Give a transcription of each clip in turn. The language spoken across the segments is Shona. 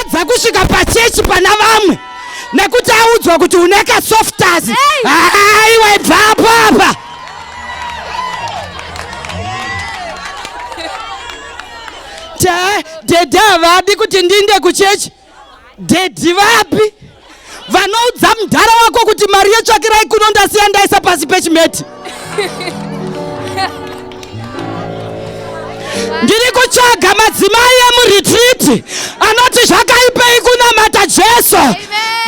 adza kusvika pachechi pana vamwe nekuti audzwa kuti une kasoftazi aiwa ibva apo apa dhedhi havadi kuti ndiinde kuchechi dhedhi vapi vanoudza mdhara wako kuti mari yetsvakirai kuno ndasiya ndaisa pasi pechimeti ndiri kutsvaga madzimai emuretriti anoti zvakaipei kunamata jesu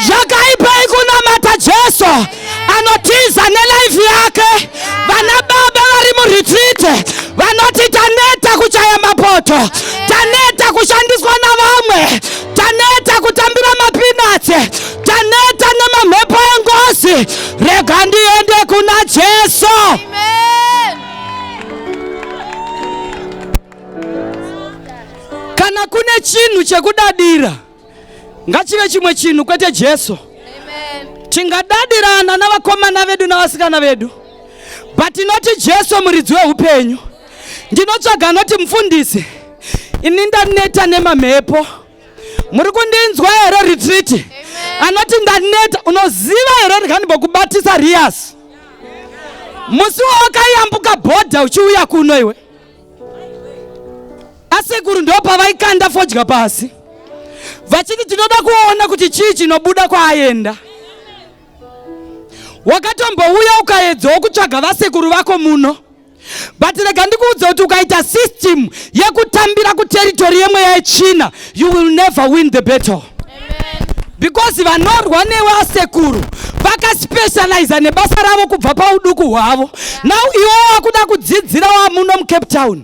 zvakaipei kunamata jesu anotiza nelife yake. Vana baba vari muretreat vanoti taneta kuchaya mapoto, taneta kushandiswa navamwe, taneta kutambira mapinatsi, taneta nemamhepo engozi. Rega ndiende kuna Jesu. Kana kune chinhu chekudadira ngachive chimwe chinhu kwete jesu tingadadirana navakomana vedu navasikana vedu but inoti jesu muridzi weupenyu ndinotsvaga anoti mufundisi ini ndaneta nemamhepo muri kundinzwa here ritriti anoti ndaneta unoziva here rikanimbokubatisa riyasi musi wawakayambuka bhodha uchiuya kuno iwe asekuru ndo pavaikanda fodya pasi vachiti tinoda kuona kuti chii chinobuda kwaaenda wakatombouya ukaedzawo kutsvaga vasekuru vako muno but rega ndikuudza kuti ukaita system yekutambira kuteritori yemweya yechina you will never win the battle because vanorwa newe asekuru vakaspecializa nebasa ravo kubva pauduku hwavo now iwo wakuda kudzidzira wamuno mucape town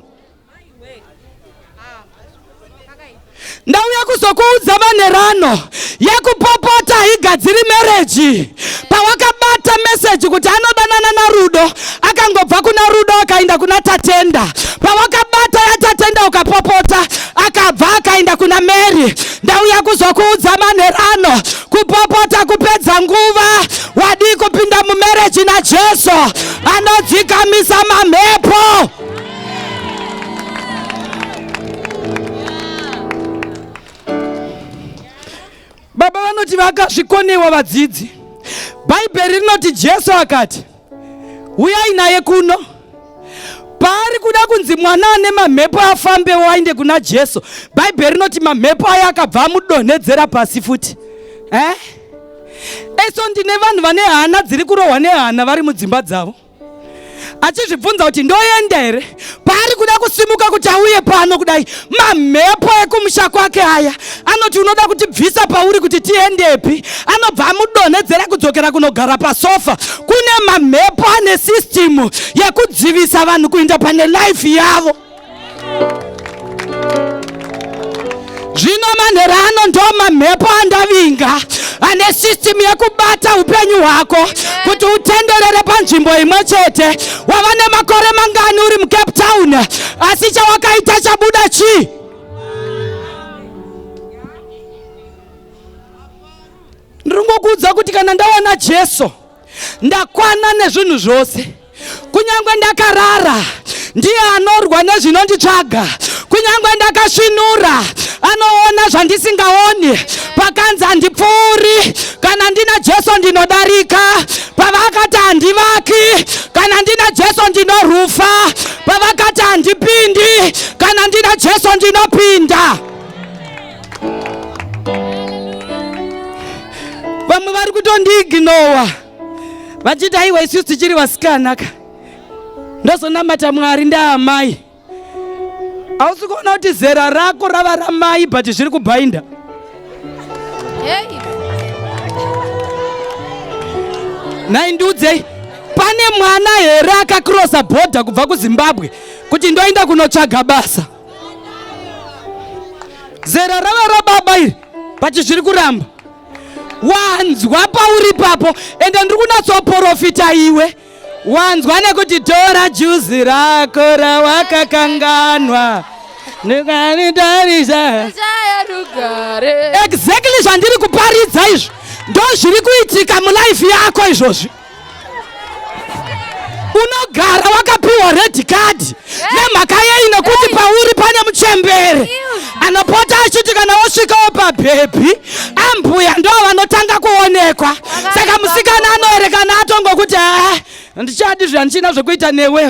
ndauya kuzokuudza manherano yekupopota haigadziri mereji pawakabata meseji kuti anodanana narudo akangobva kuna rudo akaenda kuna tatenda pawakabata yatatenda ukapopota akabva akaenda kuna mary ndauya kuzokuudza manherano kupopota kupedza nguva wadii kupinda mumereji najesu anodzikamisa mamhepo Baba vanoti vakazvikonewa vadzidzi. Bhaibheri rinoti Jesu akati, huyai naye kuno. Paari kuda kunzi mwana ane mamhepo afambewo ainde kuna Jesu, Bhaibheri rinoti mamhepo aya akabva amudonhedzera pasi futi. Eh? Eso ndine vanhu vane hana dziri kurohwa nehana vari mudzimba dzavo. achizvibvunza kuti ndoenda here paari kuda kusimuka kuti auye pano kudai mamhepo ekumusha kwake aya anoti unoda kutibvisa pauri kuti tiendepi anobva amudonhedzera kudzokera kunogara pasofa kune mamhepo ane sistimu yekudzivisa vanhu kuinda pane laifi yavo zvino manhero ano ndo mamhepo andavinga ane system yekubata upenyu hwako kuti utenderere panzvimbo imwe chete wava nemakore mangani uri mucape town asi chawakaita chabuda chii ndiri ngokuudza kuti kana ndawana jesu ndakwana nezvinhu zvose Kunyangwe ndakarara, ndiye anorwa nezvinonditsvaga. Kunyangwe ndakasvinura, anoona zvandisingaoni. Pakanzi handipfuuri, kana ndina Jesu ndinodarika. Pavakati handivaki, kana ndina Jesu ndinorufa. Pavakati handipindi, kana ndina Jesu ndinopinda. Vamwe vari kutondiignowa. vachiti aiwa isu tichiri vasikana ka ndozonamata mwari ndaamai hausi kuona kuti zera rako rava ramai but zviri kubhainda nhai ndiudzei pane mwana here akakrosa bhodha kubva kuzimbabwe kuti ndoenda kunotsvaga basa zera rava rababa iri but zviri kuramba wanzwa pauri papo ende ndiri kunatsoporofita iwe wanzwa nekuti tora juzi rako rawakakanganwa ndikanitarisa exactly zvandiri kuparidza izvo ndozviri kuitika mulife yako izvozvi unogara wakapiwa red card nemhaka yei nekuti pauri pane muchembere anopota achiti kana wosvikawo pabhebhi ambuya ndo vanotanga kuonekwa saka musikana anoerekana atongokuti haa ndichadi zvandichina zvekuita newe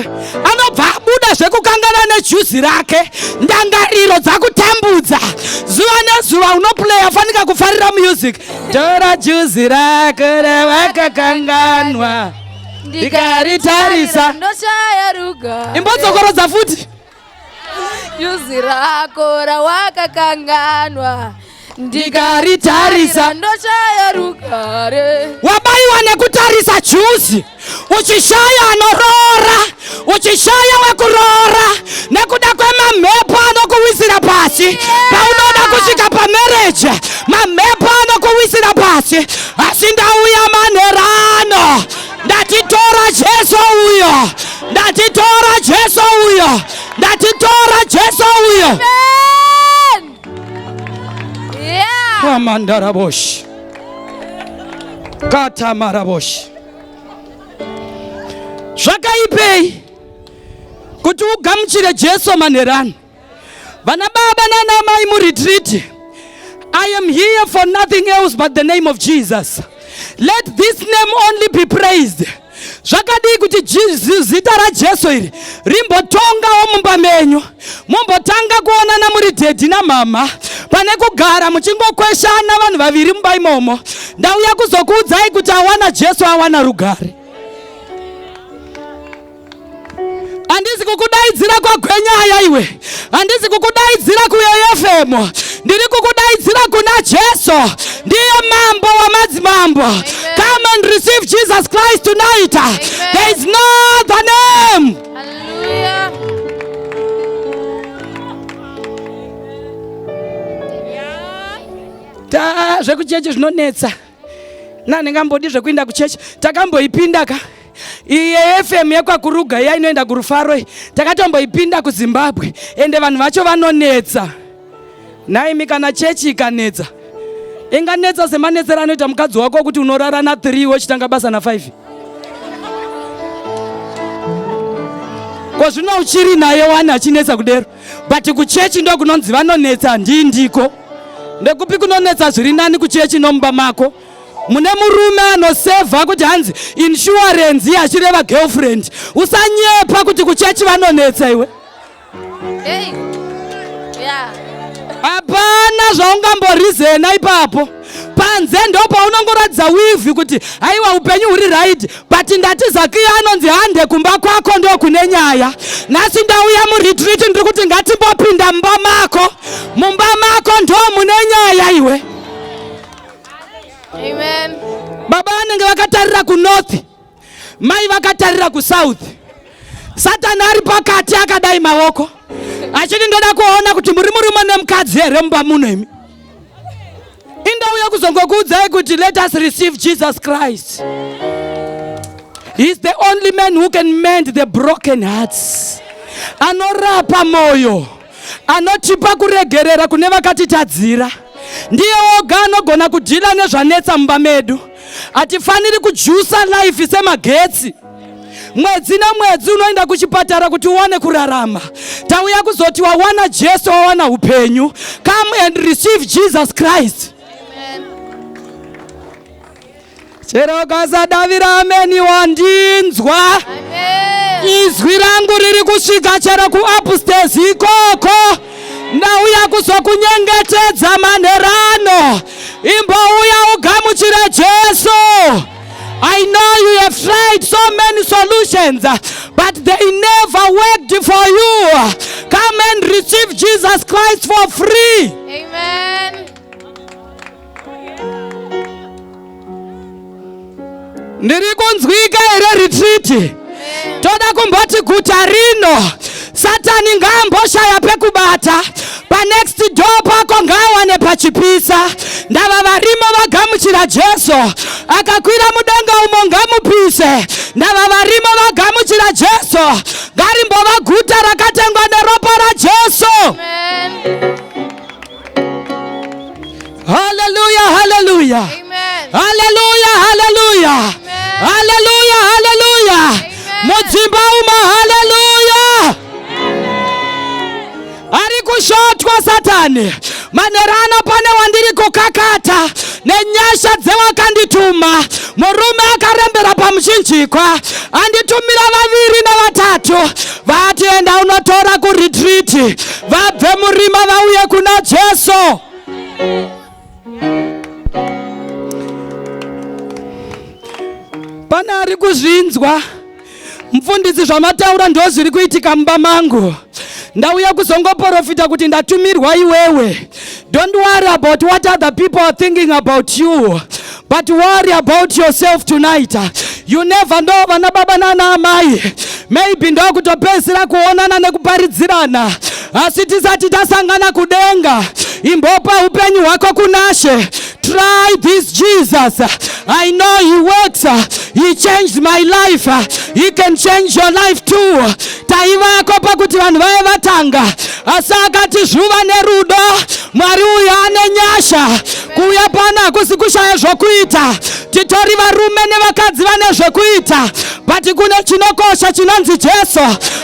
anobva abuda zvekukangana nejuzi rake ndangariro dzakutambudza zuva nezuva unoplaya fanika kufarira music tora juzi rako ravakakanganwa ndikaritarisa ndoshaya ruga imbodzokorodza futi juzi rako rawakakanganwa ndikaritarisa ndoshaya rugare wabaiwa nekutarisa juzi uchishaya anoroora uchishaya wekuroora nekuda kwemamhepo anokuwisira pasi paunoda kusvika pamereje mamhepo anokuwisira pasi asi ndauya manherano ndatitora jesu uyo ndatitora jesu uyo ndatitora jesu uyo kamandaraboshi katamaraboshi zvakaipei kuti ugamuchire jesu manherani vana baba nana mai muretriti i am here for nothing else but the name of jesus let this name only be praised zvakadii kuti zita rajesu iri rimbotongawo mumba menyu Mumbotanga kuonana muri dhedhi namhamha pane kugara muchingokweshana vanhu vaviri mumba imomo. Ndauya kuzokuudzai kuti awana Jesu awana rugare. Handisi kukudaidzira kwagwenyaya iwe, handisi kukudaidzira kuyoyefemo, ndiri kukudaidzira kuna Jesu, ndiye mambo wamadzimambo. Come and receive Jesus Christ tonight. There is no other name. Hallelujah. ta zvekuchechi zvinonetsa nandingambodi zvekuinda kuchechi takamboipinda ka iye fm yekwakuruga iya inoenda kurufaro iyi takatomboipinda kuzimbabwe ende vanhu vacho vanonetsa Nhaimi kana chechi ikanetsa inganetsa semanetsero anoita mukadzi wako kuti unorara na 3 wochitanga basa na 5 kozvino uchiri naye wani achinetsa kudero but kuchechi ndokunonzi vanonetsa ndii ndiko ndekupi kunonetsa zviri nani kuchechi nomumba mako mune murume anosevha kuti hanzi inshuwarenzi yachireva girlfriend usanyepa kuti kuchechi vanonetsa iwe Hey. Yeah. Hapana zvaungamborizena ipapo panze ndopaunongoratidza wivhi kuti haiwa upenyu huri raidi but ndati zakiya anonzi hande kumba kwako ndokune nyaya nhasi ndauya muretreat ndiri kuti ngatimbopinda mumba mako mumba mako ndo mune nyaya iwe Amen. baba vanenge vakatarira kunorth Mai vakatarira kusouth, Satani ari pakati akadai maoko achiti ndoda kuona kuti muri murume nemukadzi here mumba muno imi. Indauya kuzongokuudzai kuti let us receive Jesus Christ. He is the only man who can mend the broken hearts. Anorapa moyo. Anotipa kuregerera kune vakatitadzira. Ndiye oga anogona kudhila nezvanetsa mumba medu. Hatifaniri kujusa life semagetsi. Mwedzi nemwedzi unoenda kuchipatara kuti uwane kurarama. Tauya kuzoti wawana Jesu, wawana upenyu. Come and receive Jesus Christ. chero ukasadavira ameni wandinzwa izwi rangu riri kusvika chero kuupstairs ikoko ndauya kuzokunyengetedza manherano imbouya ugamuchire jesu I know you have tried so many solutions, but they never worked for you. Come and receive Jesus Christ for free. Amen. ndiri kunzwika here ritriti toda kumboti guta rino satani ngaamboshaya pekubata panext door pako ngaawane pachipisa ndava varimo vagamuchira jesu akakwira mudenga umo ngamupise ndava varimo vagamuchira jesu ngarimbova guta rakatengwa neropa rajesu Amen. Haleluya, haleluya. Haleluya, haleluya. Haleluya, haleluya. Mudzimba uma haleluya. Ari kushotwa Satani. Manerana pane wandiri kukakata nenyasha dzewakandituma. Murume akarembera pamuchinjikwa anditumira vaviri nevatatu vati enda unotora kuretriti vabve murima vauye kuna jesu pane ari kuzvinzwa mfundisi zvamataura ndo zviri kuitika mumba mangu ndauya kuzongoporofita kuti ndatumirwa iwewe don't worry about what other people are thinking about you But worry about yourself tonight. You never know vana baba nana amai. Maybe ndokutopedzisira kuonana nekuparidzirana. Asi tisati tasangana kudenga. Imbopa upenyu hwako kunashe. Try this Jesus. I know he works. He changed my life. He can change your life too. Taivako pakuti vanhu vaye vatanga asi akati zvuva nerudo mwari uyo ane nyasha kuuya pano hakusi kushaya zvokuita titori varume nevakadzi vane zvokuita but kune chinokosha chinonzi jesu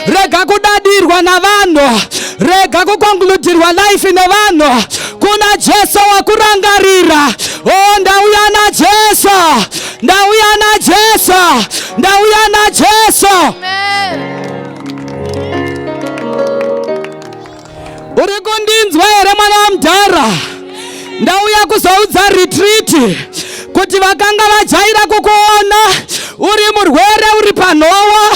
rega kudadirwa navanhu rega kukonkludirwa life nevanhu kuna jesu wakurangarira o oh, ndauya najesu ndauya najesu ndauya najesu Amen. Uri kundinzwa here mwana wamudhara? Ndauya kuzoudza retreat kuti vakanga vajaira kukuona uri murwere uri panhowa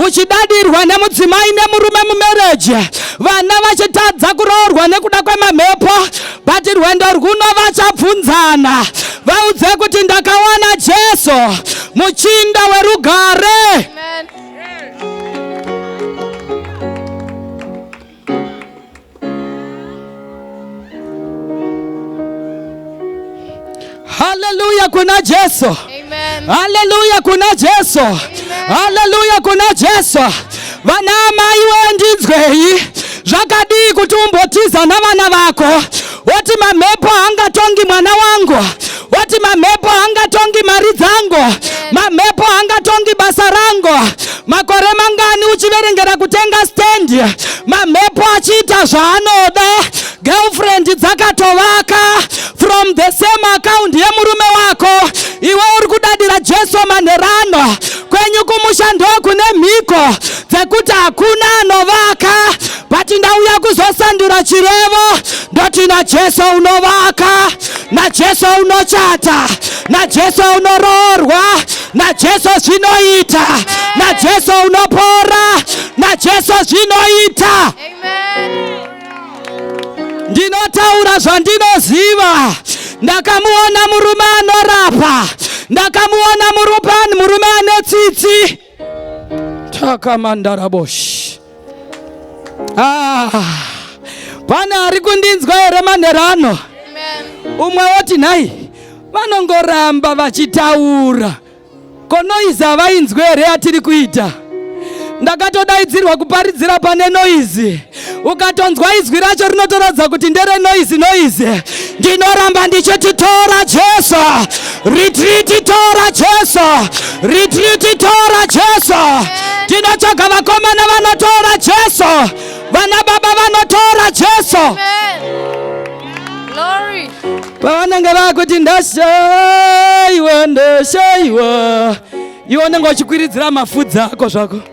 uchidadirwa nemudzimai nemurume mumereji vana vachitadza kuroorwa nekuda kwemamhepo but rwendo rwuno vachabvunzana vaudze kuti ndakawana jesu muchinda werugare Amen. Haleluya, kuna Jesu. Haleluya, kuna Jesu. Haleluya, kuna Jesu. Vana amai wendinzwei, zvakadii kuti umbotiza navana vako woti mamhepo haangatongi mwana wangu woti mamhepo haangatongi mari dzangu mamhepo haangatongi basa rangu makore mangani uchiverengera kutenga stendi mamhepo achiita zvaanoda girlfriend dzakatovaka from the same account yemurume wako iwe uri kudadira jesu manherano kwenyu kumusha ndokune mhiko dzekuti hakuna anovaka but ndauya kuzosandura chirevo ndoti najesu unovaka najesu unochata najesu unoroorwa najesu zvinoita najesu unopora najesu zvinoita ndinotaura zvandinoziva ndakamuona murume anorapa ndakamuona murupani murume ane tsitsi takamandarabosh ah, pane ari kundinzwa here manherano umwe woti nhai vanongoramba vachitaura konoizi havainzwe here yatiri kuita ndakatodaidzirwa kuparidzira pane noizi ukatonzwa izwi racho rinotoratidza kuti ndere noizi noizi ndinoramba ndichiti tora jesu ritriti tora jesu ritriti tora jesu tinotsvaga vakomana vanotora jesu vana baba vanotora jesu pavanenge vakuti ndashaiwa ndashaiwa iwe unenge uchikwiridzira mafudzi ako zvako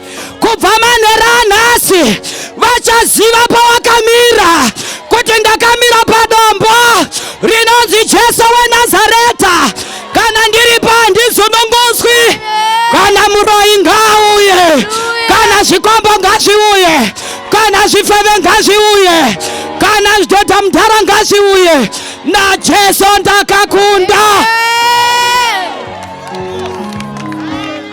kubva manhero anhasi vachaziva pawakamira kuti ndakamira padombo rinonzi jesu wenazareta kana ndiri pandizununguswi kana muroyi ngaauye kana zvikombo ngazviuye kana zvifeve ngazviuye kana zvidhodha mudhara ngazviuye najesu ndakakunda yeah.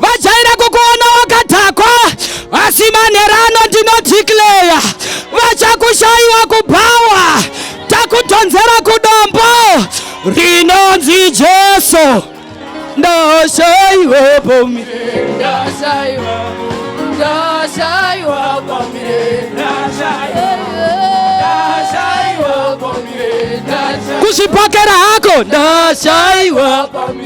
vajaira kukuona wakadhakwa asi manherano ndinodhikleya vachakushaiwa kubhawa takudhonzera kudombo rinonzi jesu ndashaiwa pami ndashaiwa ndashaiwa pami kuzvipokera hako ndashaiwa pami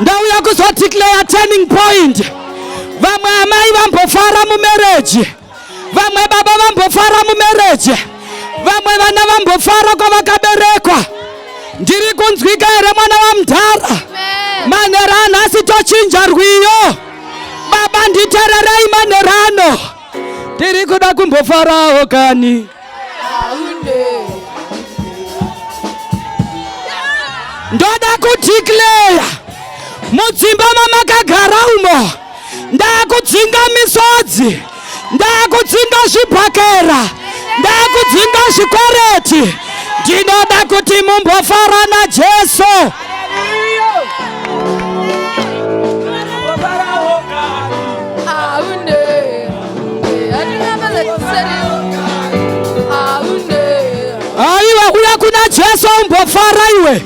ndauya kuzodeclare turning point vamwe amai vambofara mumereji vamwe baba vambofara mumereji vamwe vana vambofara kwavakaberekwa ndiri kunzwika here mwana wamudhara manhero anhasi tochinja rwiyo baba nditererei manhero ano ndiri kuda kumbofarawo kani ndoda kudeclare mudzimba mamakagara umo ndakudzinga misodzi ndakudzinga zvibhakera ndakudzinga zvikwereti ndinoda kuti mumbofara najesu aiwa kuda kuna jesu umbofara iwe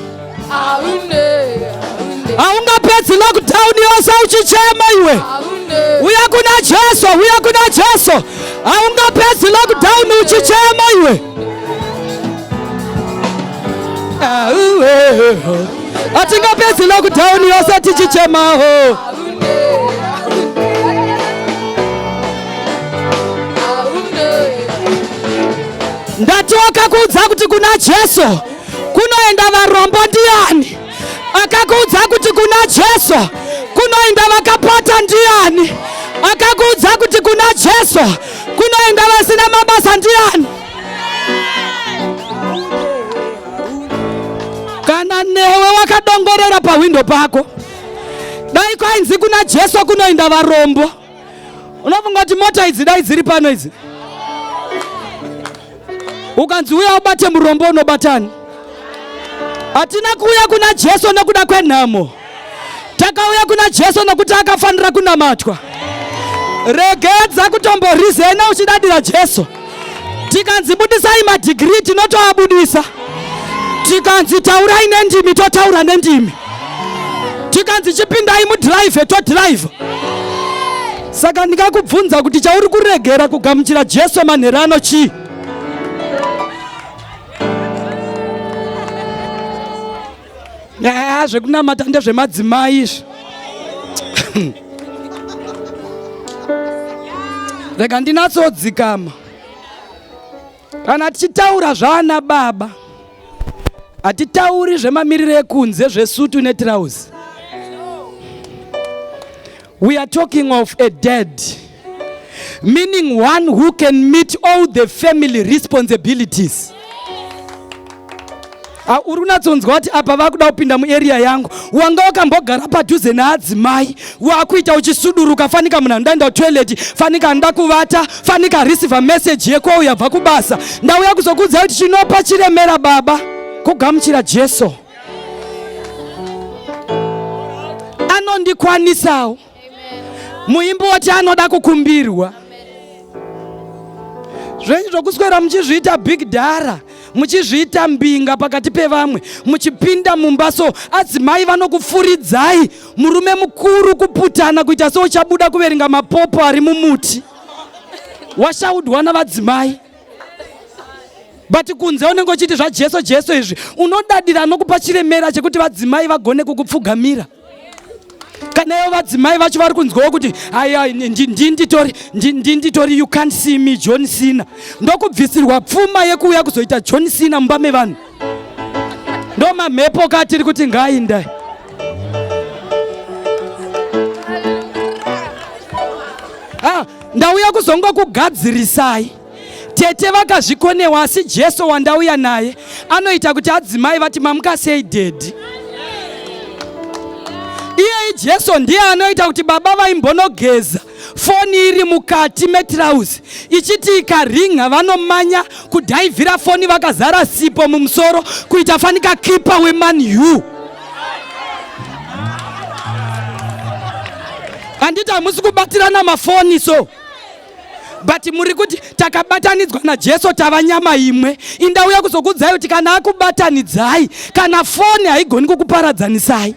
haungapedzi lockdown yose uchichema iwe uya kuna jesu uya kuna jesu haungapedzi lockdown uchichema iwe hatingapedzi lockdown yose tichichemaho ndatoka kuudza kuti kuna jesu kunoenda varombo ndiyani akakuudza kuti kuna jesu kunoenda vakapata ndiyani akakuudza kuti kuna jesu Kunoenda vasina mabasa ndiani? Kana newe wakadongorera pahwindo pako, dai kwainzi kuna Jesu kunoenda varombo, unofunga kuti mota idzi dai dziri pano idzi? Ukanzi uya ubate murombo unobatani? Hatina kuuya kuna Jesu nekuda kwenhamo. Takauya kuna Jesu nokuti akafanira kunamatwa. Regedza kutomborizena uchidadira Jesu. Tikanzi budisai madhigirii tinotoabudisa. Tikanzi taurai nendimi totaura nendimi. Tikanzi chipindai mudhiraivhe todhiraivha. Saka ndingakubvunza kuti chauri kuregera kugamuchira Jesu manhero ano chii? yaa zvekunamata ndezvemadzimai izvi rega ndinatsodzikama kana tichitaura zvaana baba hatitauri zvemamiriro ekunze zvesutu netirauzi We are talking of a dead meaning one who can meet all the family responsibilities ah, uri unatsonzwa kuti apa vakuda kupinda muarea yangu wanga wakambogara padhuze naadzimai wakuita uchisuduruka fanika munhu andaenda kutoilet fanika anoda kuvata fanika arisiva meseji yekwauya bva kubasa ndauya kuzokuudza kuti chinopa chiremera baba kugamuchira jesu anondikwanisawo muimbi woti anoda kukumbirwa zvenyu zvokuswera muchizviita big dara muchizviita mbinga pakati pevamwe muchipinda mumba so adzimai vanokufuridzai murume mukuru kuputana kuita seuchabuda kuverenga mapopo ari mumuti washaudwa navadzimai but kunze unenge uchiti zvajesu jesu izvi unodadira anokupa chiremera chekuti vadzimai vagone kukupfugamira kana ivo vadzimai vacho vari kunzwawo kuti aya ndinditori ndinditori you can't see me john sina ndokubvisirwa pfuma yekuuya kuzoita john sina mumba mevanhu ndo mamhepo ka tiri kuti ngainda ah, ndauya kuzongo kugadzirisai tete vakazvikonewa asi jesu wandauya naye anoita kuti adzimai vati mamuka sei dedi iyeyi jesu ndiye anoita kuti baba vaimbonogeza foni iri mukati metirauzi ichiti ikaringa vanomanya kudhaivhira foni vakazara sipo mumusoro kuita fanika kipa weman u handiti hamusi kubatirana mafoni so but muri kuti takabatanidzwa najesu tava nyama imwe indauya kuzokuudzai kuti kana akubatanidzai kana foni haigoni kukuparadzanisai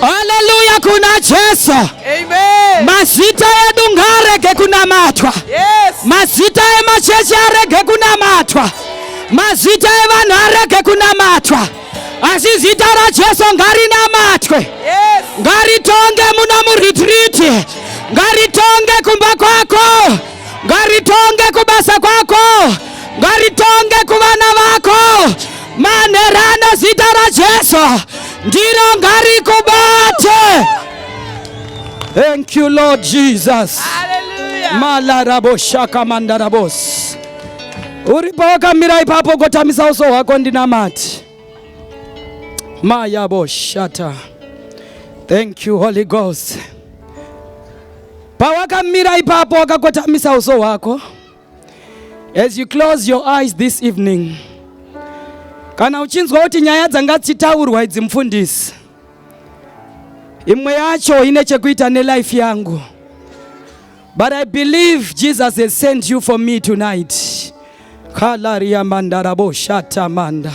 Haleluya kuna Jesu. Amen. Mazita edu ngarege kunamatwa. Yes. Mazita emachechi arege kunamatwa. Mazita evanhu arege kunamatwa. Asi zita raJesu ngarinamatwe. Yes. Ngaritonge muno muretiriti. Ngaritonge kumba kwako. Ngaritonge kubasa kwako. Ngaritonge kuvana vako. Manherana zita raJesu ndiro ngarikubate. Thank you Lord Jesus. Hallelujah. Malarabo shaka mandarabos. Uripo wakamira ipapo gotamisa uso hwako ndinamati. Mayabo shata. Thank you Holy Ghost. Pawakamira ipapo wakakotamisa uso hwako. As you close your eyes this evening, kana uchinzwa kuti nyaya dzanga dzichitaurwa idzi mufundisi, imwe yacho ine chekuita nelife yangu, but I believe Jesus has sent you for me tonight. Kalaria mandarabo shata manda.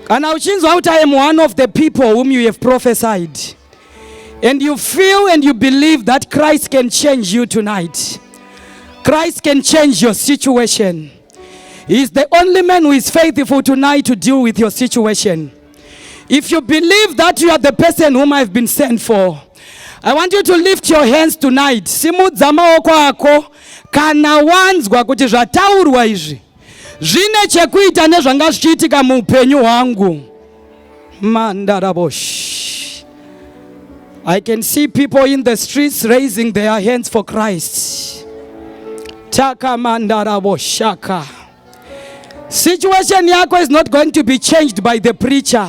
Kana uchinzwa kuti I am one of the people whom you have prophesied And you feel and you believe that Christ can change you tonight. Christ can change your situation. He is the only man who is faithful tonight to deal with your situation. If you believe that you are the person whom I've been sent for, I want you to lift your hands tonight. Simudza maoko ako kana wanzwa kuti zvataurwa izvi zvine chekuita nezvanga zvichiitika muupenyu hwangu mandarabosh i can see people in the streets raising their hands for christ taka mandaraboshaka situation yako is not going to be changed by the preacher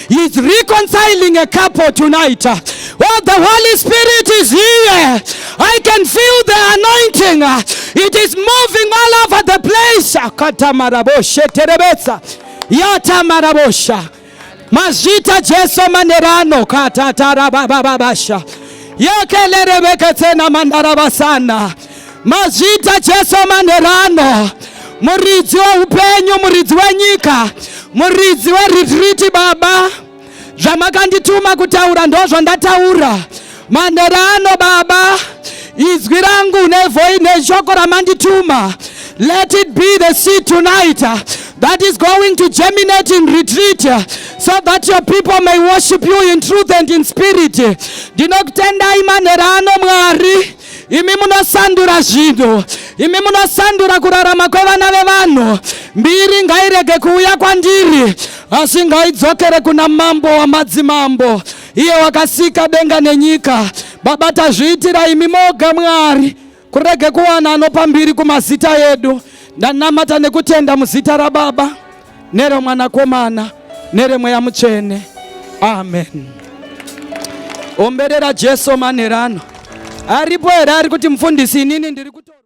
He's reconciling a couple tonight. Oh, the Holy Spirit is here. I can feel the anointing. It is moving all over the place. Katamaraboshe terebesa. Yatamarabosha. Mazita Jesu manerano katatarabababasha. Yekelere beketsena mandarabasana. Mazvita Jesu manherano, muridzi weupenyu, muridzi wenyika, muridzi weretiriti. Baba, zvamakandituma kutaura ndozvo ndataura manherano. Baba, izwi rangu nevoi neshoko ramandituma, let it be the seed tonight that is going to germinate in retreat so that your people may worship you in truth and in spirit. Ndinokutendai manherano Mwari. Imi munosandura zvinhu, imi munosandura kurarama kwevana vevanhu. Mbiri ngairege kuuya kwandiri, asi ngaidzokere kuna mambo wamadzimambo, iye wakasika denga nenyika. Baba, tazviitira imi moga Mwari, kurege kuwana anopa mbiri kumazita edu. Ndanamata nekutenda muzita raBaba. neromwanakomana neremweya mutsvene amen omberera jesu manherano aripo here ari kuti mufundisi inini ndiri kuto